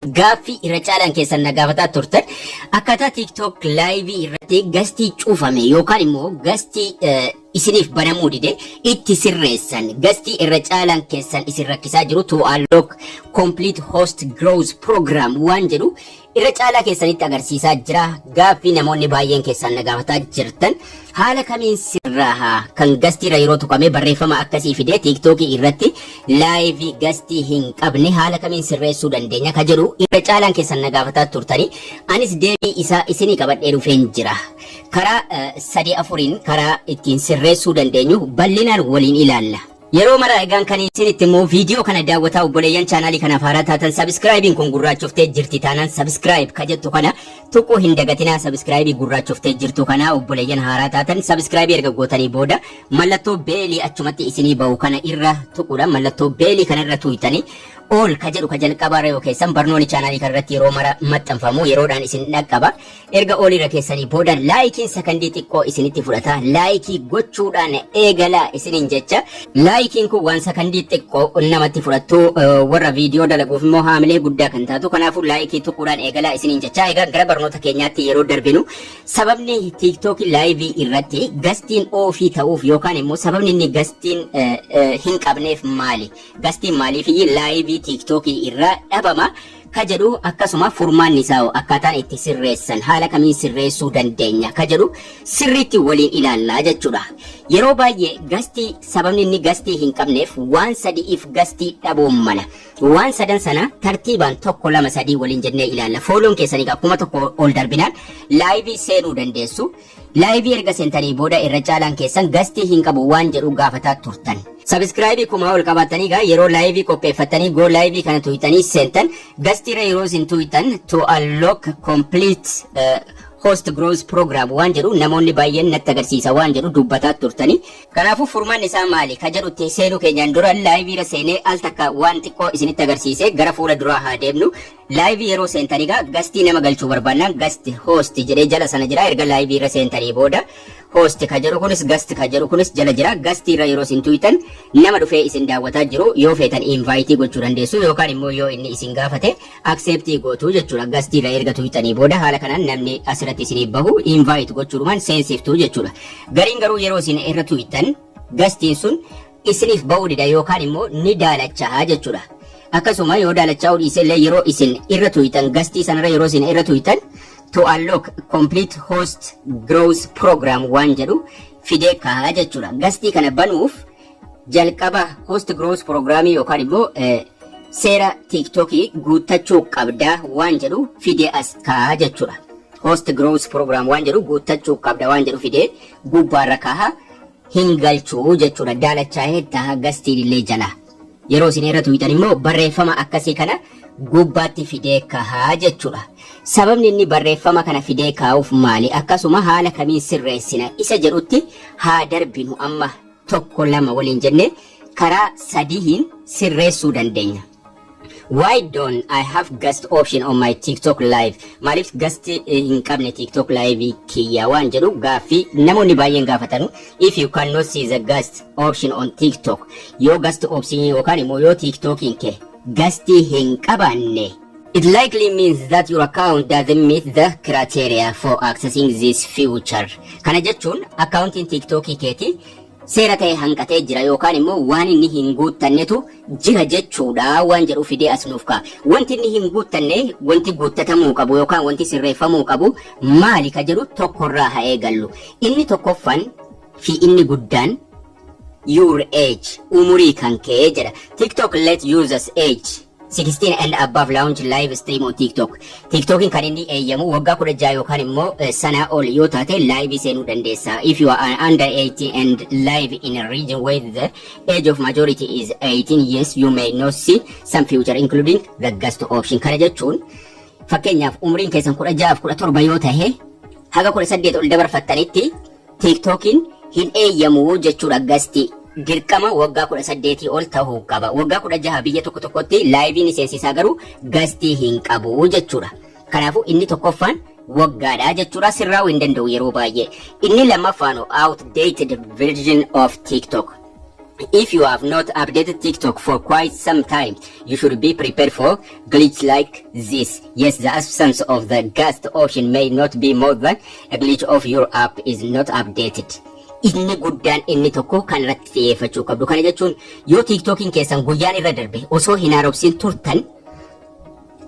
Gaaffii irra caalaan keessan na gaafataa turtan akkaataa TikTok laayivii irratti gastii cufame yookaan immoo gastii eh, isiniif banamuu dide itti sirreessan gastii irra caalaan keessan isin rakkisaa jiru to unlock complete host growth program waan jedhu irra caalaa keessanitti agarsiisaa jira gaaffii namoonni baay'een keessan na gaafataa jirtan Haala kamiin sirraaha? Kan gastiirra yeroo tuqamee barreeffama akkasii fidee tiiktookii irratti laayivii gastii hin qabne haala kamiin sirreessuu dandeenya ka jedhu irra caalaan keessan na gaafataa turtanii anis deebii isaa isinii qabadhee dhufeen jira. Karaa eh, sadii afuriin karaa ittiin sirreessuu dandeenyu bal'inaan waliin ilaalla. Yeroo mara egaan kan isin itti himu video kana daawwataa obboleeyyan chaanaalii kanaaf haaraa taatan subscribe'n kun gurraachoftee jirti taanaan subscribe ka jettu kana tuquu hin dagatinaa subscribe gurraachoftee jirtu kana obboleeyyan haaraa taatan subscribe erga gootanii booda mallattoo beelii achumatti isinii ba'u kana irra tuquudha mallattoo beelii kana irra tuuytanii all ka jedhu ka jalqabaa irra yoo keessan barnooni chaanaalii kana irratti yeroo mara maxxanfamu yeroodhaan isin dhaqqaba Erga all irra keessanii booda laayikiin sakandii xiqqoo isinitti fudhata. Laayikii gochuudhaan eegalaa isiniin jecha. Laayikiin kun waan sakandii xiqqoo namatti fudhattu warra viidiyoo dalaguuf immoo haamilee guddaa kan taatu. Kanaafuu laayikii tuquudhaan eegalaa isiniin jecha. Egaa gara barnoota keenyaatti yeroo darbinu sababni tiiktookii laayivii irratti gastiin oofii ta'uuf yookaan immoo sababni inni gastiin hin qabneef maali? Gastiin maaliifiyyi laayivii tiiktookii irraa dhabama? ka jedhu akkasuma furmaanni isaa hoo akkaataan itti sirreessan haala kamiin sirreessuu dandeenya ka jedhu sirriitti waliin ilaalla jechuudha. Yeroo baay'ee gastii sababni inni gastii hin qabneef waan sadi'iif gastii dhabuun mala. Waan sadan sana tartiibaan tokko lama sadii waliin jennee ilaalla. Fooloon keessan egaa kuma tokko ol darbinaan laayivii seenuu dandeessu. Live erga seentanii booda irra caalaan keessan gastii hin qabu waan jedhu gaafataa turtan. Subscribe kumaa ol qabaattanii gaa yeroo live qopheeffattanii go live kana tuuytanii seentan gastii irra yeroo isin tuuytan to unlock complete eh, host growth program waan jedhu namoonni baay'een natti agarsiisa waan jedhu dubbataa turtanii. Kanaafuu furmaan isaa maali ka jedhutti seenuu keenyaan dura live irra seenee al takka waan xiqqoo isinitti agarsiisee gara fuula duraa haa deemnu. Live yeroo seentan egaa gastii nama galchuu barbaannaan gast host jedhee jala sana jira erga live irra seentanii booda host ka jedhu kunis gast ka jedhu kunis jala jira gastii irra yeroo isin tuyxan nama dhufee isin daawwataa jiru yoo feetan invite gochuu dandeessu yookaan immoo yoo inni isin gaafate accept gootu jechuudha gastii irra erga tuyxanii booda haala kanaan namni asirratti isiniif bahu invite gochuudhumaan seensiftu jechuudha gariin garuu yeroo isin irra tuyxan gastiin sun isiniif ba'uu dida yookaan immoo ni daalachaha jechuudha. Akkasuma yoo daalachaa'uu dhiise illee yeroo isin irra tuuytan gastii sanarra yeroo isin irra tuuytan to unlock complete host growth program waan jedhu fidee kaha jechuudha. Gastii kana banuuf jalqaba host growth program yookaan immoo eh, seera tiiktokii guuttachuu qabda waan jedhu fidee as kaha jechuudha. Host growth program waan jedhu guuttachuu qabda waan jedhu fidee gubbaarra kaha. hin galchu jechuudha daalachaa'initta gastiinillee jala yeroo isin irra tuyxan immoo barreeffama akkasii kana gubbaatti fidee kahaa jechuudha sababni inni barreeffama kana fidee kaa'uuf maali akkasuma haala kamiin sirreessina isa jedhutti haa darbinu amma tokko lama waliin jennee karaa sadihiin sirreessuu dandeenya. Why don't I have guest option on my TikTok live? Maaliif guest eh, hin qabne TikTok live kiyya waan jedhu gaaffii namoonni baay'een gaafatanu. If you cannot see the guest option on TikTok, yoo guest option yookaan immoo yoo TikTokiin kee guest hin qabaanne It likely means that your account doesn't meet the criteria for accessing this feature. Kana jechuun akkaawuntiin TikTokii keetii seera ta'e hanqatee jira yookaan immoo waan inni hin guuttannetu jira jechuudha waan jedhu fidee as nuuf ka'a. Wanti inni hin guuttanne wanti guuttatamuu qabu yookaan wanti sirreeffamuu qabu maali ka jedhu tokkorraa haa eegallu. Inni tokkoffan fi inni guddaan your age umurii kan kee jedha. TikTok let users age 16 and above launch live stream on TikTok. TikTokin kan inni eeyyamu waggaa 16 yookaan immoo eh, sanaa ol yoo taate live seenuu dandeessa. If you are under 18 and live in a region where the age of majority is 18 yes you may not see some future including the guest option. Kana jechuun fakkeenyaaf umriin keessan 16 fi 17 yoo tahe haga 18 ol dabarfattanitti Tiiktookiin hin eeyyamu jechuudha gasti dirqama waggaa 18 ol tahuu qaba. Waggaa 16 biyya tokko tokkotti laayivii ni seensisaa garuu gastii hin qabu jechuudha. Kanaafuu inni tokkoffaan waggaadha jechuudha sirraa'uu hin danda'u yeroo baay'ee. Inni lammaffaanoo outdated version of TikTok. If you have not updated TikTok for quite some time, you should be prepared for glitch like this. Yes, the absence of the gust option may not be more than a glitch of your app is not updated. Inni guddaan inni tokko kan irratti xiyyeeffachuu qabdu. Kana jechuun yoo TikTokiin keessan guyyaan irra darbe osoo hin haaromsin turtan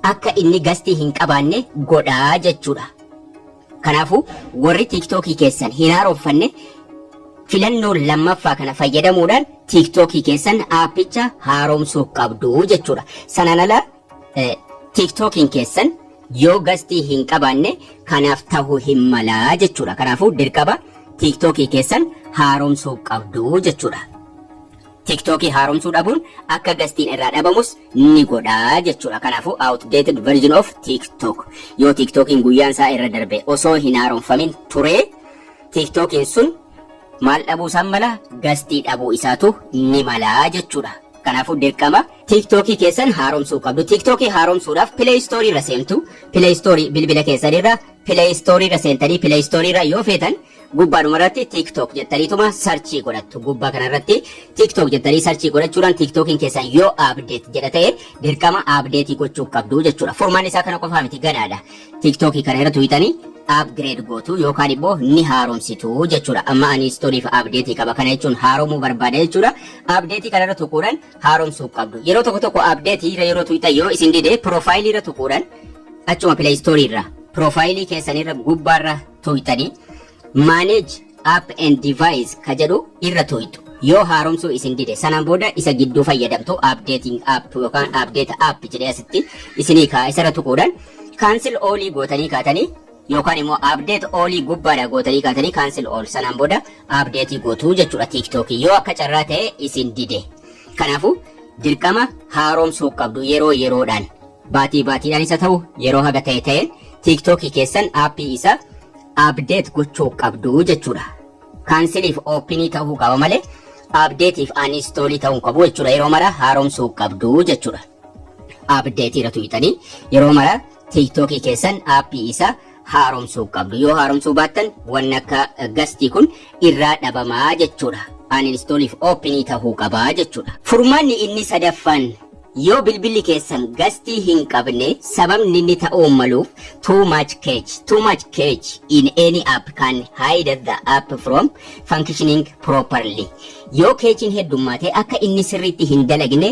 akka inni gastii hin qabaanne godhaa jechuudha. Kanaafuu warri tiiktookii keessan hin haaroffanne filannoo lammaffaa kana fayyadamuudhaan tiiktookii keessan aappicha haaromsuu qabdu jechuudha. Sanaan ala eh, tiiktookiin keessan yoo gastii hin qabaanne kanaaf tahu hin malaa jechuudha. Kanaafuu dirqama tiiktookii keessan haaromsuu qabdu jechuudha. Tiktookii haaromsuu dhabuun akka gastiin irraa dhabamus ni godha jechuudha. Kanaafuu outdated version of TikTok. Yoo TikTokiin guyyaan isaa irra darbee osoo hin haaromfamin turee TikTokiin sun maal dhabuu isaan mala gastii dhabuu isaatu ni mala jechuudha. Kanaafuu dirqama TikTokii keessan haaromsuu qabdu. TikTokii haaromsuudhaaf Play Store irra seentu. Play Store bilbila keessan irra Play Store irra seentanii Play Store irra yoo feetan Gubbaadhuma irratti TikTok jettaniituma sarchii godhattu. Gubbaa kana irratti TikTok jettanii sarchii godhachuudhaan TikTokiin keessan yoo update jedha ta'e dirqama update gochuu qabdu jechuudha. Furmaanni isaa kana qofaa miti gadaadha. TikTokii kana irra tuqxanii upgrade gootu yookaan immoo ni haaromsitu jechuudha. Amma ani istoriif update qaba kana jechuun haaromuu barbaada jechuudha. Update kana irra tuquudhaan haaromsuu qabdu. Yeroo tokko tokko update irra yeroo tuqxan yoo isin dide profile irra tuquudhaan achuma play store irra profile keessan irra gubbaarra tuuytanii manage app and device ka jedhu irra tuuytu. Yoo haaromsuu isin dide sanaan booda isa gidduu fayyadamtu updating app yookaan update app jedhee asitti isinii kaa'a isarra tuquudhaan cancel all gootanii kaatanii yookaan immoo update all gubbaadha gootanii kaatanii cancel all sanaan booda update gootuu jechuudha TikTok yoo akka carraa ta'e isin dide. Kanaafuu dirqama haaromsuu qabdu yeroo yeroodhaan. Baatii baatiidhaanis haa ta'u yeroo haga ta'e ta'een TikTok keessan aappii isa update gochuu qabdu jechuudha. Kaansiliif oopinii ta'uu qaba malee update'if uninstall ta'uu hin qabu jechuudha. Yeroo mara haaromsuu qabdu jechuudha. Update irra tuqxanii yeroo mara TikTok keessan aappii isa haaromsuu qabdu yoo haaromsuu baattan wanni akka gastii kun irraa dhabamaa jechuudha uninstallif openii tahuu qabaa jechuudha furmaanni inni sadaffaan yoo bilbilli keessan gastii hin qabne sababni inni ta'uu maluuf too much cache too much cache in any app can hide the app from functioning properly yoo keechiin heddummaate akka inni sirriitti hin dalagne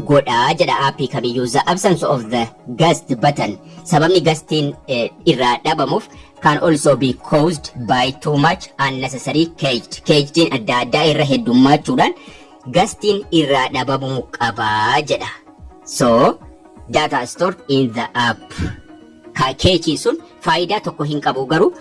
godha jedha aappii kamiyyuu the absence of the gust button sababni gastiin eh, irraa dhabamuuf can also be caused by too much unnecessary caged cagediin adda addaa irra heddummachuudhaan gastiin irraa dhabamuu qaba jedha so data stored in the app ka keechiin sun faayidaa tokko hin qabu garuu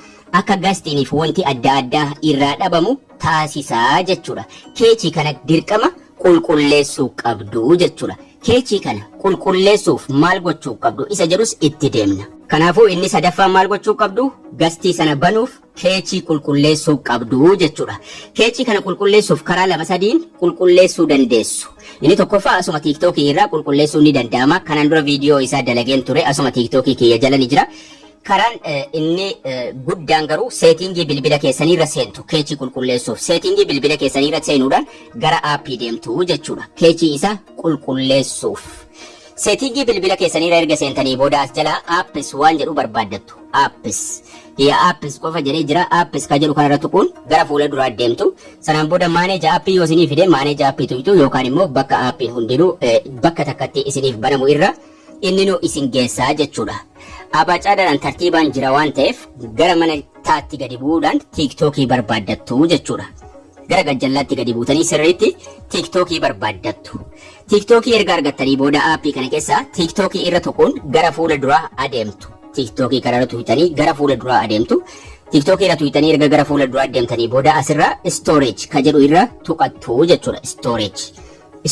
akka gastiiniif wanti adda addaa irraa dhabamu taasisaa jechuudha. Keechii kana dirqama qulqulleessuu qabdu jechuudha. Keechii kana qulqulleessuuf maal gochuu qabdu isa jedhus itti deemna. Kanaafuu inni sadaffaan maal gochuu qabdu? Gastii sana banuuf keechii qulqulleessuu qabdu jechuudha. Keechii kana qulqulleessuuf karaa lama sadiin qulqulleessuu dandeessu. Inni tokkoffaa asuma tiiktookii irraa qulqulleessuun ni danda'ama. Kanaan dura viidiyoo isaa dalageen ture asuma tiiktookii kiyya jala ni jira. Karaan inni guddaan garuu seetiingii bilbila keessanii irra seentu keechii qulqulleessuuf. Seetiingii bilbila keessanii irra seenuudhaan gara aappii deemtu jechuudha. Keechii isaa qulqulleessuuf. Seetiingii bilbila keessanii irra erga seentanii booda as jalaa aappis waan jedhu barbaaddattu. Aappis. Hiya aappis qofa jedhee jira. Aappis ka jedhu kanarra tuquun gara fuula duraa deemtu. Sanaan booda maaneeja aappii yoo isinii fide maaneeja aappii tuqxu yookaan immoo bakka aappiin hundinuu bakka takkatti isiniif banamu irra inninu isin geessa jechuudha. Abaacaadaadhaan tartiibaan jira waan ta'eef gara mana taatti gadi bu'uudhaan tiiktookii barbaaddattu jechuudha. Gara gajjallaatti gadi buutanii sirriitti tiiktookii barbaaddattu. Tiiktookii erga argattanii booda aappii kana keessaa tiiktookii irra tuquun gara fuula duraa adeemtu. Tiiktookii kana irra tuqxanii gara fuula duraa adeemtu. Tiiktookii irra tuqxanii erga gara fuula duraa deemtanii booda asirra storage ka jedhu irra tuqattu jechuudha. Storage.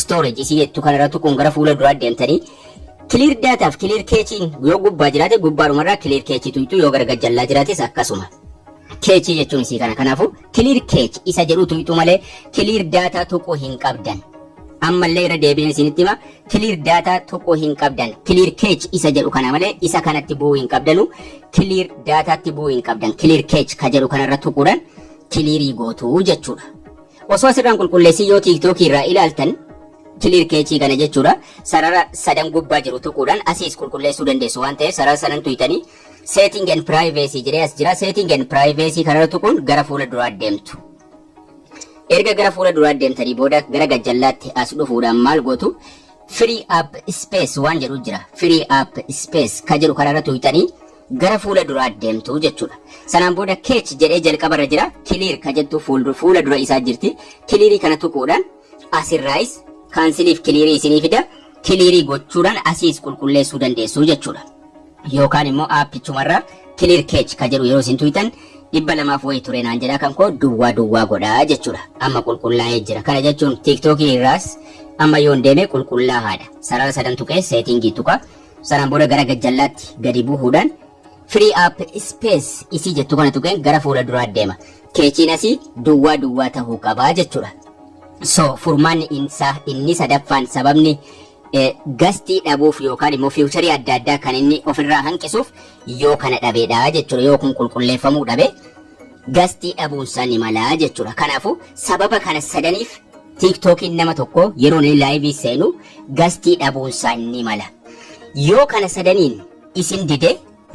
storage isii jettu kanarra tuquun gara fuula duraa deemtanii clear data fi clear cache yoo gubbaa jiraate gubbaadhumarraa clear cache tuyxuu yoo gara gajjallaa jiraates akkasuma cache jechuun isii kana kanaafuu clear cache isa jedhu tuyxuu malee clear data tuquu hin qabdan ammallee irra deebiin isinitti hima clear data tuquu hin qabdan clear cache isa jedhu kana malee isa kanatti bu'uu hin qabdanu clear dataatti bu'uu hin qabdan clear cache ka jedhu kanarra tuquudhaan clearii gootuu jechuudha Osoo asirraan qulqulleessin yoo TikTok irraa ilaaltan clear cache kana jechuudha sarara sadan gubbaa jiru tuquudhaan asiis qulqulleessuu dandeessu waan ta'eef sarara sanan tuytanii setting and privacy jedhee as jira setting and privacy kanarra tuquun gara fuula duraa deemtu. Erga gara fuula duraa deemtanii booda gara gajjallaatti as dhufuudhaan maal gootu free app space waan jedhu jira free app space ka jedhu kanarra tuytanii gara fuula duraa deemtu jechuudha. Sanaan booda keech jedhee jalqaba irra jira, kiliir ka jettu fuuldu- fuula dura isaa jirti. Kiliirii kana tuquudhaan asirraayis kaansiliif kiliirii isinii fida. Kiliirii gochuudhaan asiis qulqulleessuu dandeessu jechuudha. Yookaan immoo aappichumarraa kiliir keech ka jedhu yeroo isin tuyxan dhibba lamaaf wayii ture naan jedhaa kan koo duwwaa duwwaa godhaa jechuudha. Amma qulqullaa'ee jira. Kana jechuun tiiktookii irraas amma yoon deeme qulqullaahaadha. Sarara sadan tuqee seetiingii tuqa. Sanaan booda gara gajjallaatti gadi buhuudhaan Free Up Space isii jettu kana tuqeen gara fuula duraa deema. Keechiin asii duwwaa duwwaa tahuu qaba jechuudha. So furmaanni insaa inni sadaffaan sababni eh, gastii dhabuuf yookaan immoo fiiwucharii adda addaa kan inni ofirraa hanqisuuf yoo kana dhabeedha jechuudha. Yoo kun qulqulleeffamuu dhabe gastii dhabuunsaa ni malaa jechuudha. Kanaafuu sababa kana sadaniif tiiktookiin nama tokko yeroo inni laayivii seenu gastii dhabuunsaa ni mala. Yoo kana sadaniin isin dide.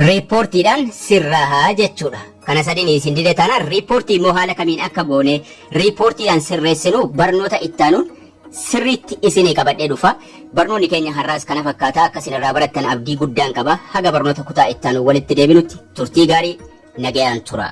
riippoortiidhaan sirraaha jechuudha. Kana sadinii isin dide taanaan riippoortii immoo haala kamiin akka goone riippoortiidhaan sirreessinu barnoota ittaanuun sirriitti isinii qabadhee dhufa. Barnoonni keenya har'aas kana fakkaata akka isin irraa barattan abdii guddaan qaba. Haga barnoota kutaa ittaanu walitti deebinutti turtii gaarii nagayaan tura.